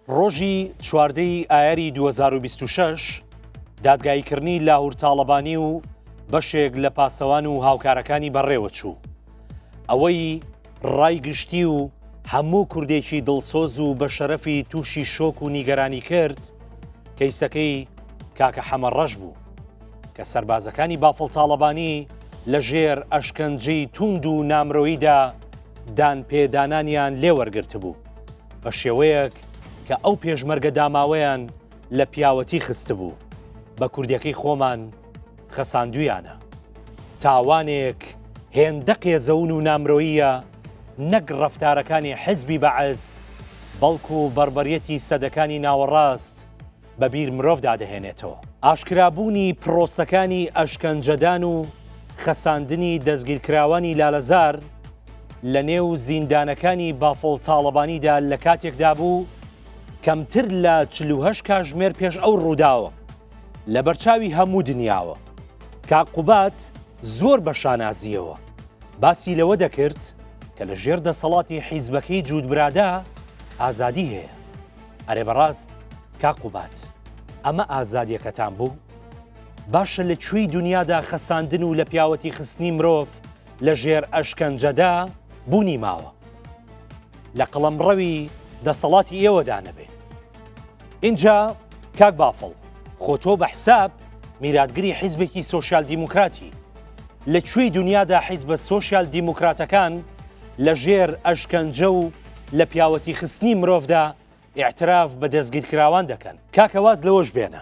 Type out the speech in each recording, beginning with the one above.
ڕۆژی چواردە ی ئایاری دوو هەزار و بیست و شەش دادگاییکردنی لاهور تاڵەبانی و بەشێک لە پاسەوان و هاوکارەکانی بەڕێوە چوو. ئەوەی ڕای گشتی و هەموو کوردێکی دڵسۆز و بە شەرەفی تووشی شۆک و نیگەرانی کرد، کەیسەکەی کاکە حەمە ڕەش بوو. کە سەربازەکانی بافڵ تاڵەبانی لە ژێر ئەشکەنجەی تووند و نامرۆییدا دان پێدانانیان لێ وەرگرتبوو. بە شێوەیەک کە ئەو پێشمەرگە داماوەیان لە پیاوەتی خستبوو بە کوردەکەی خۆمان خەساندویانە تاوانێک هێندە قێزەون و نامرۆیە نەک ڕفتارەکانی حزبی بەعس بەڵکو و بەربەرەتی سەدەکانی ناوەڕاست بە بیر مرۆڤدا دەهێنێتەوە. ئاشکرابوونی پڕۆسەکانی ئەشکەنجەدان و خەساندنی دەستگیرکراوانی لالەزار لە نێو زیندانەکانی بافڵ تاڵەبانیدا لە کاتێکدا بوو کەمتر لە چل و هەشت کاژمێر پێش ئەو ڕووداوە لە بەرچاوی هەموو دنیاوە کاک قوباد زۆر بە شانازییەوە باسی لەوە دەکرد کە لە ژێر دەسەڵاتی حیزبەکەی جووت برادا ئازادی هەیە. ئەرێ بەڕاست کاک قوباد ئەمە ئازادیەکەتان بوو؟ باشە لە کوێی دنیادا خەساندن و لە پیاوەتی خستنی مرۆڤ لە ژێر ئەشکەنجەدا بوونی ماوە لە قەڵەمڕەوی دەسەڵاتی ئێوەدا نەبێ اینجا کاک بافڵ خۆ تۆ بە حساب میراتگری حیزبێکی سوسیال دیموکراتی لە کوێی دنیادا حیزبە سوسیال دیموکراتەکان لە ژێر ئەشکەنجە و لە پیاوەتی خستنی مرۆڤدا ئیعتراف بە دەستگیرکراوان دەکەن. کاکە واز لەوەش بێنە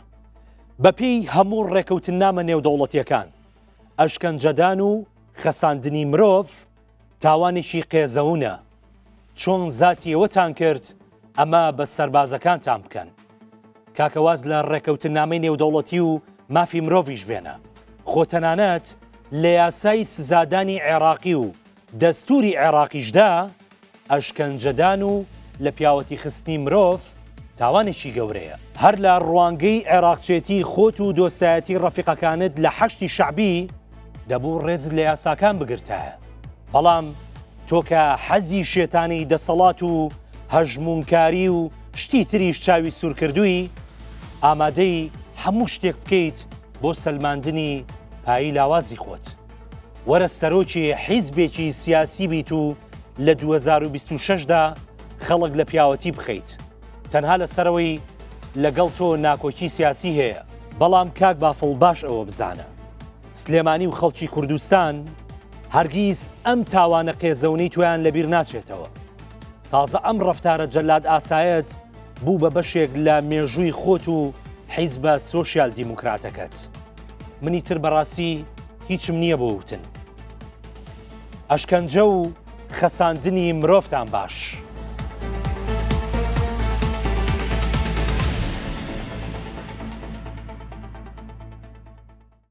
بەپێی هەموو ڕێکەوتننامە نێودەوڵەتیەکان ئەشکەنجەدان و خەساندنی مرۆڤ تاوانێکی قێزەونە چۆن زاتی ئێوەتان کرد ئەمە بە سەربازەکانتان بکەن کاکە واز لە ڕێکەوتننامەی نێودەوڵەتی و مافی مرۆڤیش بێنە خۆ تەنانەت لە یاسای سزادانی عێراقی و دەستووری عێراقیشدا ئەشکەنجەدان و لە پیاوەتی خستنی مرۆڤ تاوانێکی گەورەیە. هەر لە ڕوانگەی عێراقچێتی خۆت و دۆستایەتی ڕەفیقەکانت لە حەشدی شەعبی دەبوو ڕێزت لە یاساکان بگرتایە. بەڵام تۆ کە حەزی شێتانەی دەسەڵات و هەژموونکاری و شتی تریش چاوی سوورکردووی، ئامادەی هەموو شتێک بکەیت بۆ سەلماندنی پایی لاوازی خۆت. وەرە سەرۆکی حیزبێکی سیاسی بیت و لە 2026 دا خەڵک لە پیاوەتی بخەیت تەنها لە سەرەوەی لەگەڵ تۆ ناکۆکی سیاسی هەیە. بەڵام کاک بافڵ باش ئەوە بزانە سلێمانی و خەڵکی کوردستان هەرگیز ئەم تاوانە قێزەونەی تۆیان لەبیر ناچێتەوە تازە ئەم ڕفتارە جەلاد ئاسایەت بوو بە بەشێک لە مێژووی خۆت و حیزبە سۆسیال دیموکراتەکەت. منی تر بەڕاستی هیچم نییە بۆ وتن ئەشکەنجە و خەساندنی مرۆڤتان باش.